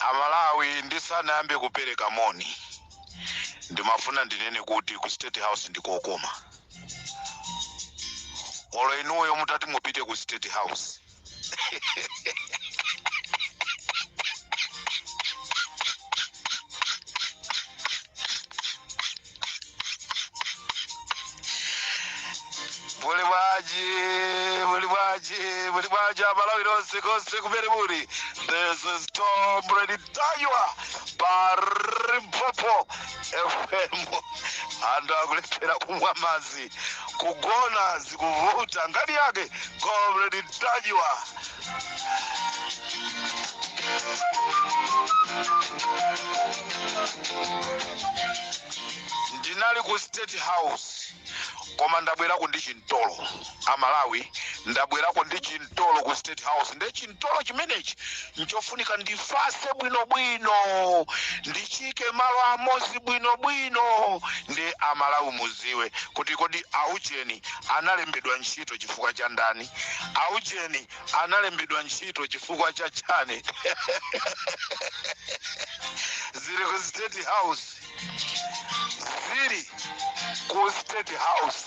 amalawi ndisanayambe kupereka moni ndimafuna ndinene kuti ku state house ndikokoma olo inuyo mutati mupite ku state house muli bwanji muli bwanji muli bwanji amalawi lonse konse kumene muli this is comrade ntanyiwa pa limpopo fm anthu akulephera kumwa madzi kugona zikuvuta ngati yake comrade ntanyiwa ndinali ku state house koma ndabwerako ndi chimtolo amalawi ndabwerako ndi chimtolo mtolo ku state house nde chimtolo chimenechi nchofunika ndifase bwinobwino ndichiike malo amozi bwinobwino nde amalawi muziwe kuti kodi aujeni analembedwa ntchito chifukwa cha ndani aujeni analembedwa ntchito chifukwa cha chani zili ku state house zili ku state house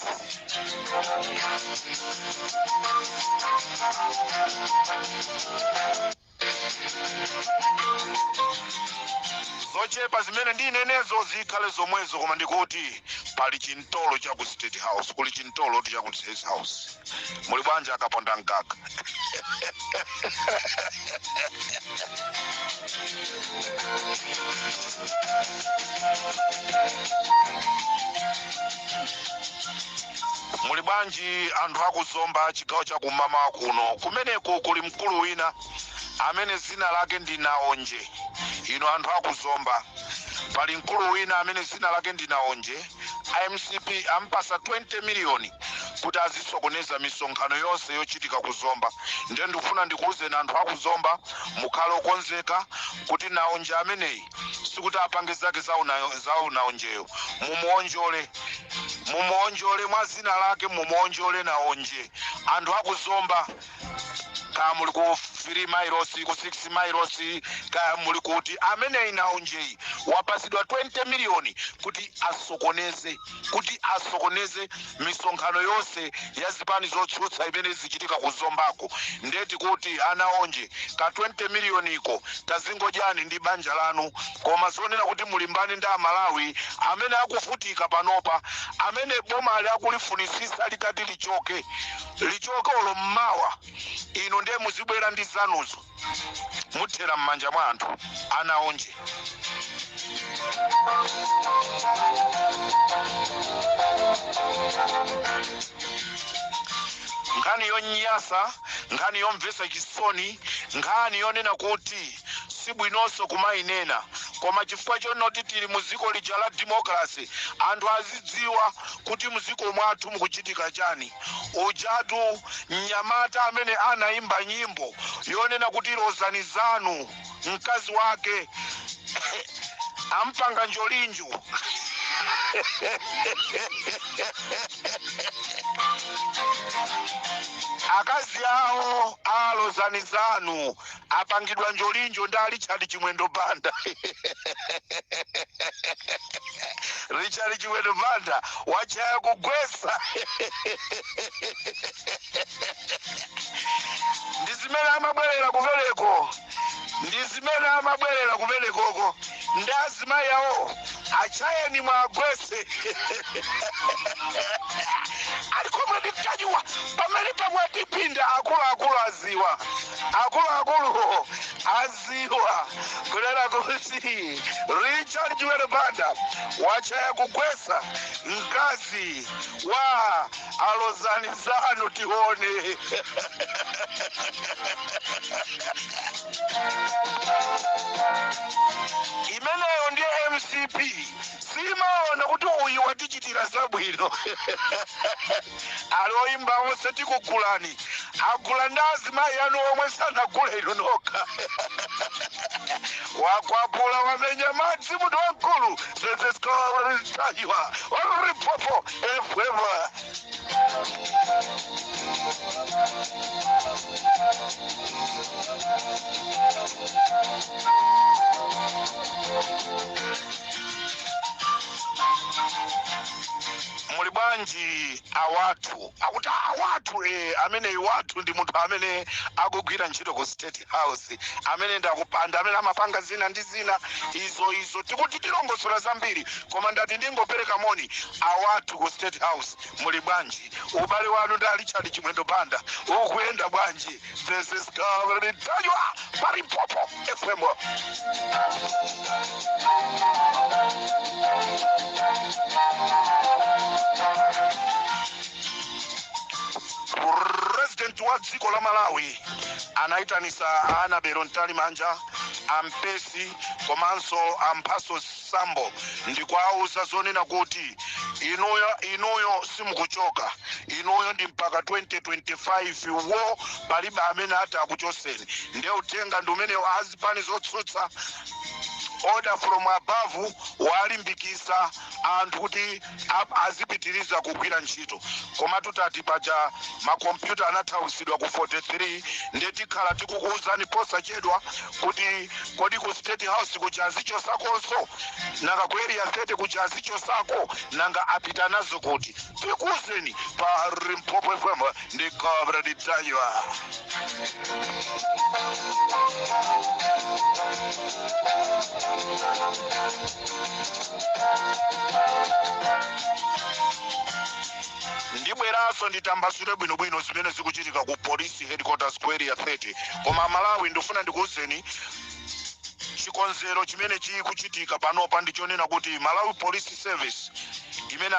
zochepa zimene ndinenezo zikhale zomwezo koma ndikuti pali chimtolo cha ku state house kuli chimtolo kuti cha ku state house muli bwanji akaponda mkaka muli bwanji anthu aku zomba chigawo chakummawa kuno kumeneko kuli mkulu wina amene zina lake ndi naonje inu anthu aku zomba pali mkulu wina amene zina lake ndi naonje a mcp ampasa 20 miliyoni kuti azisokoneza misonkhano yonse yochitika ku zomba ndiye ndikufuna ndikuwuzeni anthu aku zomba mukhale okonzeka kuti naonje ameneyi sikuti apange zake za una- za unaonjeyo mumuonjole mumuonjole mwa zina lake mumuonjole naonje anthu aku zomba kaya muli ku 3 mailosi ku 6 mailosi kaya muli kuti ameneyi naonjeyi wapasidwa 20 miliyoni kuti asokoneze kuti asokoneze misonkhano yonse ya zipani zotsutsa imene zichitika ku zombako ndeti kuti a naonje ka 20 miliyoniko kazingodyani ndi banja lanu koma zonena kuti mulimbane ndi amalawi amene akuvutika panopa amene boma ali akulifunisisa likati lichoke lichoke olo mmawa inu nde muzibwera ndi zanuzo muthera mmanja mwa anthu ana onje. nkhani yonyasa nkhani yomvesa chisoni nkhani yonena kuti sibwinonso kumayinena koma chifukwa chonoti tili mu dziko lija la democracy anthu azidziwa kuti mdziko mwathu mukuchitika chani Ujatu mnyamata amene anaimba nyimbo yonena kuti lozani zanu mkazi wake ampanga njolinjo akazi awo a lozani zanu apangidwa njolinjo ndi a richard chimwendo banda richard chimwendo banda wachaya kugwesa ndi zimene amabwerera kumeneko ndi zimene amabwerera kumenekoko nde azimayi awo achayeni mwagwese ali comrade ntanyiwa pamene pamwatipinda akuluakulu aziwa akuluakuluwo aziwa kunena kuti richard chimwendo banda wachaya kugwesa mkazi wa a lozani zanu tione imeneyo ndiye mcp simaona kuti uyu watichitira zabwino ali oyimba onse tikugulani agula ndi azimayi anu omwe sanagule inu nokha wakwapula wamenya madzi munthu wamkulu this is comrade ntanyiwa on limpopo muli bwanji awathu akuti awathu e amene awathu ndi munthu amene akugwira ntchito ku state house amene ndakupanda amene amapanga zina ndi zina izo izo tikuti tilongosola zambiri Koma ndati ndingopereka moni awathu ku state house muli bwanji? Ubale wanu ndi a Richard Chimwendo Banda ukuyenda bwanji? This is Comrade Ntanyiwa pa Limpopo FM. President wa dziko la Malawi anaitanisa a Annabel Mtalimanja, a Mpesi komanso a Mphasos Sambo ndikwauza zonena kuti inuyo simukuchoka inuyo ndi mpaka 2025 wo palibe amene atakuchoseni nde uthenga ndi umenewo azipani zotsutsa order from above walimbikisa anthu kuti Azipitiliza kugwira ntchito koma tutati paja ma computer anathausidwa ku 43 nde tikhala tikukuuzani posachedwa kuti kodi ku state house kuja azichosakonso? Nanga ku area 30 kuja azichosako? Nanga apita nazo kuti? Tikuuzeni pa Limpopo FM. ndi Comrade Ntanyiwa. ndibweranso nditambasule bwinobwino zimene zikuchitika ku police headquarters ku area 30 koma malawi ndifuna ndikuwuzeni chikonzero chimene chikuchitika panopa ndi chonena kuti malawi police service imene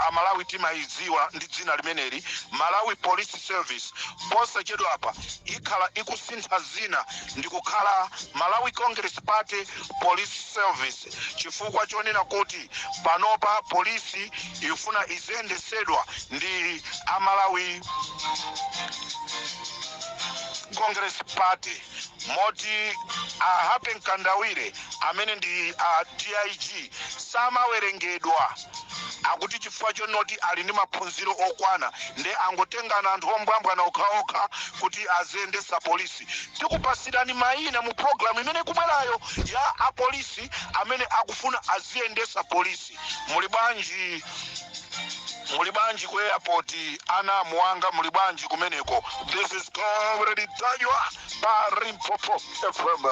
amalawi timayiziwa ndi dzina limeneli malawi police service posachedwa apa ikhala ikusintha zina ndi kukhala malawi congress party police service chifukwa chonena kuti panopa polisi ifuna iziyendesedwa ndi amalawi congress party moti a Happy Mkandawire amene ndi a DIG samawerengedwa akuti chifukwa chonoti ali ndi maphunziro okwana nde angotengana anthu ombwambwana okhaokha kuti aziyendesa polisi tikupasirani mayina mu program imene ikubwerayo ya apolisi amene akufuna aziyendesa polisi Muli bwanji ku airport? Ana a muwanga muli bwanji kumeneko? This is Comrade Ntanyiwa pa Limpopo FM.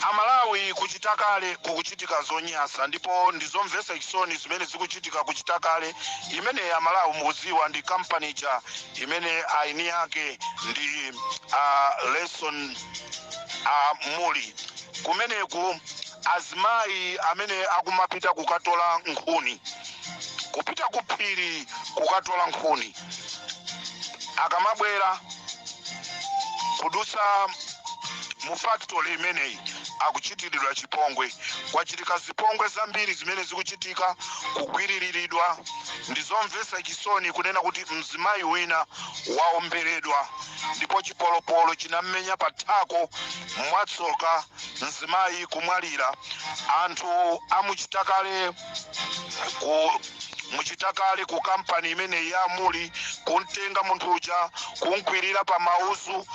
A Malawi ku Chitakale kukuchitika zonyasa ndipo ndi zomvesa chisoni zimene zikuchitika ku Chitakale imene a Malawi mukuziwa ndi company ija imene ayini ake ndi a Leston a Muli kumeneku azimayi amene akumapita kukatola nkhuni kupita ku phiri kukatola nkhuni akamabwera kudusa mu factory imeneyi akuchitiridwa chipongwe kwachitika zipongwe zambiri zimene zikuchitika kugwiriridwa ndi zomvetsa chisoni kunena kuti mzimayi wina waomberedwa ndipo chipolopolo chinam'menya pa thako mwatsoka mzimayi kumwalira anthu amuchita kale ku muchitakale ku kampani imeneyi ya Muli kumtenga munthu uja kumkwirira pa mauzu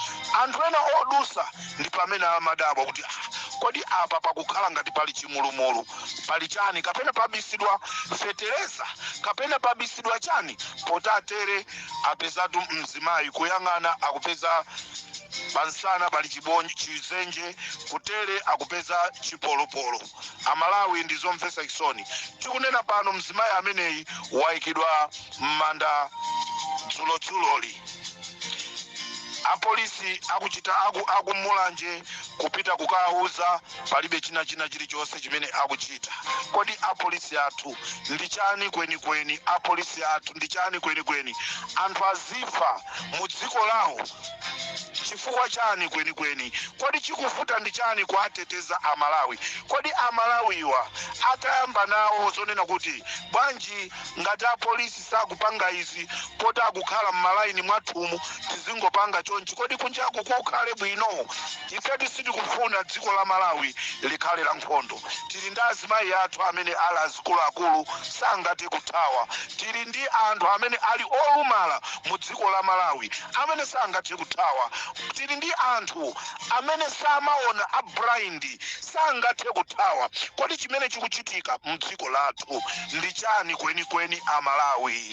anthu ena odusa ndi pamene amadabwa kuti "Ah, kodi apa pakukhala ngati pali chimulumulu pali chani kapena pabisidwa fetereza kapena pabisidwa chani poti atere apezatu mzimayi kuyang'ana akupeza pansana pali chizenje kutere akupeza chipolopolo Amalawi ndi zomvesa chisoni. Tikunena pano mzimayi ameneyi waikidwa mmanda dzulo dzuloli. A police akuchita aku Mulanje kupita kukawauza palibe china china chilichonse chimene akuchita. Kodi a police athu ndi chani kweni kweni a police athu ndi chani kweni kweni anthu azifa mu dziko lawo. chifukwa chani kwenikweni kodi chikuvuta ndi chani kuateteza amalawi kodi amalawiwa atayamba nawo zonena kuti bwanji ngati apolisi sakupanga izi poti akukhala mmalaini mwathumu tizingopanga chonchi kodi kunjaku kukhale bwino Ifetu sitikufuna dziko la Malawi likhale la nkhondo. Tili ndi azimayi athu amene ali azikuluakulu sangathe kuthawa. Tili ndi anthu amene ali olumala mu dziko la Malawi amene sangathe kuthawa. Tili ndi anthu amene samaona a blind sangathe kuthawa. Kodi chimene chikuchitika mdziko lathu ndi chani kwenikweni a Malawi?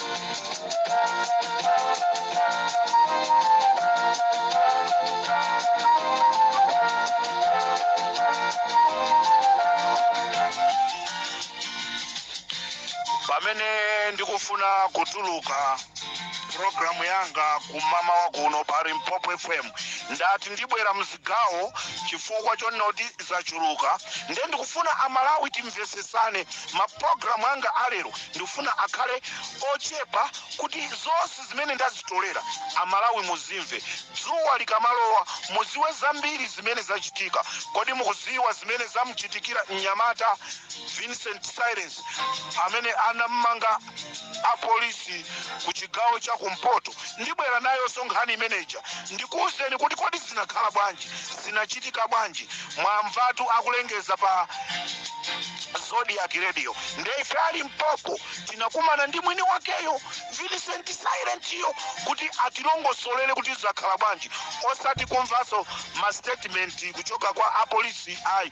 pamene ndikufuna kutuluka programu yanga kumamawa kuno pa limpopo fm ndati ndibwera mzi gawo chifukwa chonoti zachuluka ndiye ndikufuna a Malawi timvesesane ma program anga a lero ndikufuna akhale ochepa kuti zonse zimene ndazitolera a Malawi muzimve dzuwa likamalowa muziwe zambiri zimene zachitika kodi mukuziwa zimene zamuchitikira mnyamata Vincent Silence amene anamumanga apolisi ku chigawo cha kumpoto ndibwera nayonso nkhani imeneja ndikuwuzeni kuti kodi zinakhala bwanji zinachitika bwanji mwamvatu akulengeza pa zodiak radio nde ife a limpopo tinakumana ndi mwini wakeyo vincent silentiyo kuti atilongosolere kuti zakhala bwanji osati kumvanso mastatement kuchoka kwa apolisi ayi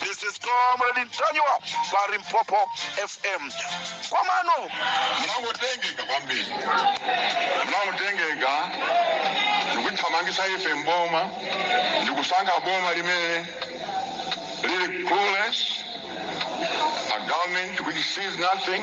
This is Comrade Ntanyiwa pa Limpopo FM. Komano munangotengeka kwambiri munangotengeka ndikuthamangisa ife mboma ndikusankha boma limene lili clueless a government which sees nothing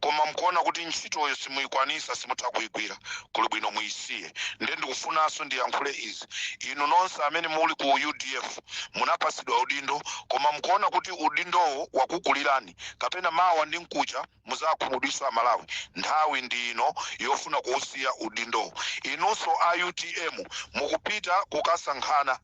koma mkuona kuti ntchitoyo simuikwanisa simutha kuigwira kuli bwino muisiye nde ndikufunanso ndiyankhule izi inu nonse amene muli ku udf munapasidwa udindo koma mkuona kuti udindowo wakukulirani kapena mawa ndi mkucha muzakhumudwisa amalawi nthawi ndi ino yofuna kuusiya udindowo inunso a utm mukupita kukasankhana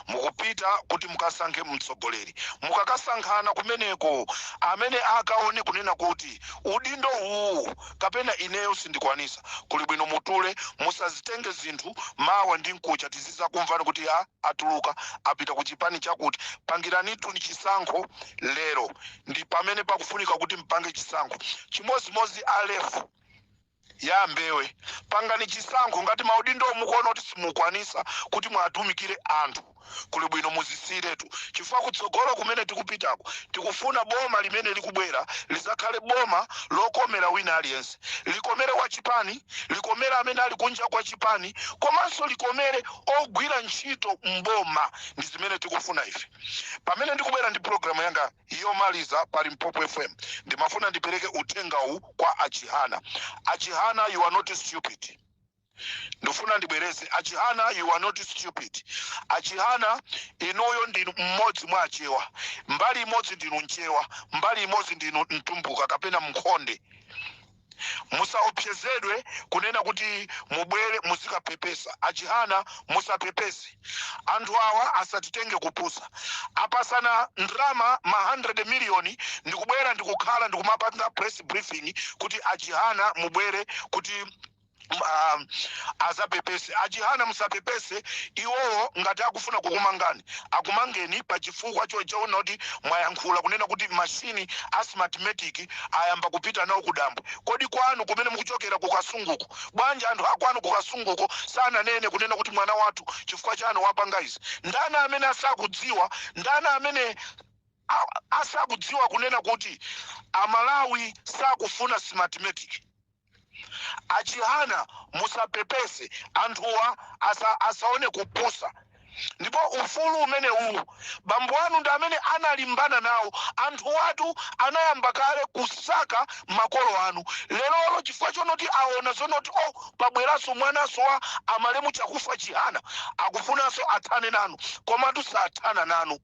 mukupita kuti mukasankhe mtsogoleri. Mukakasankhana kumeneko, amene akaone kunena kuti udindo uwuwu kapena ineyo sindikwanisa, kuli bwino mutule, musazitenge zinthu, mawa ndi mkucha tizizakumvani kuti ya atuluka apita ku chipani chakuti. Pangiranituni chisankho lero, ndi pamene pakufunika kuti mpange chisankho. Chimozimozi Alefu. ya a Mbewe. Pangani chisankho ngati maudindowo mukuona kuti simukwanisa kuti muwatumikire anthu kuli bwino muzisiiretu chifukwa kutsogolo kumene tikupitako tikufuna boma limene likubwera lizakhale boma lokomera wina aliyense. Likomere wachipani, likomere amene ali kunja kwa chipani komanso likomere ogwira ntchito m'boma. Ndi zimene tikufuna ife. Pamene ndikubwera ndi pulogalamu yanga. yomaliza pa limpopo fm ndimafuna ndipereke uthenga uwu kwa achihana achihana you are not stupid ndifuna ndibwereze achihana you are not stupid achihana inuyo ndinu mmodzi mwa achewa mbali imodzi ndinu mchewa mbali imodzi ndinu mtumbuka kapena mkhonde musaopsezedwe kunena kuti mubwere muzikapepesa achihana musapepese anthu awa asatitenge kupusa apasana ndrama ma 100 miliyoni ndikubwera ndikukhala ndikumapanga press briefing kuti achihana mubwere kuti um, azapepese achihana musapepese iwowo ngati akufuna kukumangani akumangeni pa chifukwa choti aona kuti mwayankhula kunena kuti mashini a smartmatic ayamba kupita nawo kudambwe kodi kwanu kumene mukuchokera kukasunguko bwanji anthu akwanu kukasunguko sananene kunena kuti mwana wathu chifukwa chani wapanga izi ndani amene asakudziwa ndani amene a- asakudziwa kunena kuti amalawi sakufuna smartmatic achihana musapepese anthuwa asa, asaone kupusa ndipo ufulu umene uwu bambo anu ndi amene analimbana nawo anthuwatu anayamba kale kusaka makolo anu lerolo chifukwa chonoti aona zonoti o oh, pabweranso mwananso wa amalemu chakufwa chihana akufunanso athane nanu komatu sathana nanu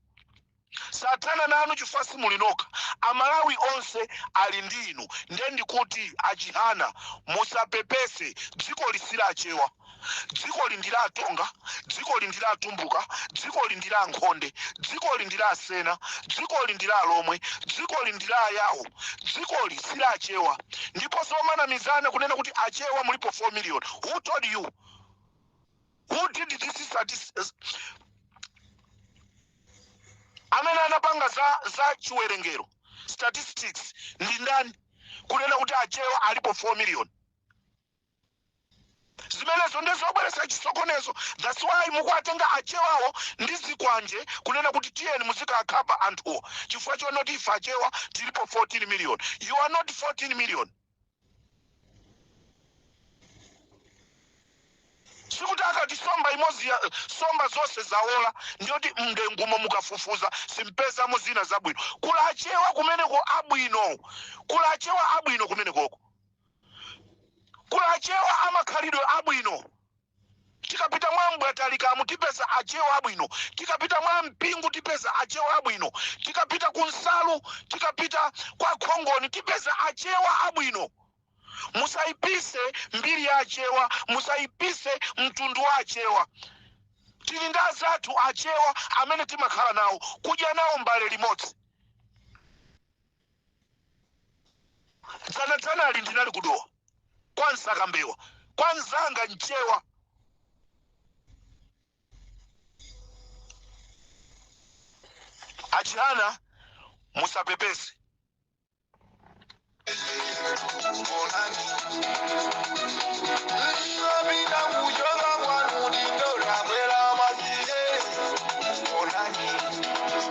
sathana nanu chifukwa simuli nokha amalawi onse ali ndi inu nde ndikuti achihana musapepese dzikoli si la achewa dzikoli ndi la atonga dzikoli ndi la atumbuka dzikoli ndi la ankhonde dzikoli ndi la asena dzikoli ndi la alomwe dzikoli ndi la ayawo dzikoli si la achewa ndipo zomanamizana kunena kuti achewa mulipo 4 million who told you Who did this statis- s- amene anapanga za za chiwerengero statistics ndi ndani kunena kuti achewa alipo 4 million zimenezo ndizobweresa chisokonezo that's why mukuwatenga achewawo ndi zikwanje kunena kuti tiyeni muzikakhapa anthuwo chifukwa chonoti ife achewa tilipo 14 million you are not 14 million sikuti akati somba imodzi ya somba zonse zawola ndiyoti mndengumo mukafufuza simpezamo zina zabwino kuli achewa kumeneko abwino kuli achewa abwino kumenekoko kuli achewa amakhalidwe abwino Tikapita mwa m'bwatalikamu tipeza achewa abwino, tikapita mwa mpingu tipeza achewa abwino, tikapita ku nsalu, tikapita kwa khongoni tipeza achewa abwino. Musaipise mbiri ya achewa, musaipise mtundu wa achewa. Tili ndi azathu achewa amene timakhala nawo, kudya nawo mbale limodzi. dzanadzanali ndinali kudowa kwa msakambewa kwa nzanga mchewa achihana musapepese Ndinopita kuchoka kwanu ndindola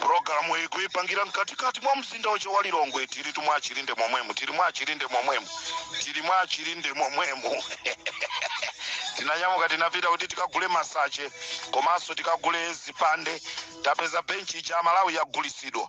pulogalamu iyi kuyipangira mkatikati mwa mzinda wake wa lilongwe tili mwa achilinde momwemu tili mwa achilinde momwemu tili mwa achilinde momwemu tinanyamuka tinapita kuti tikagule masache komanso tikagule zipande tapeza benchi ija amalawi yagulisidwa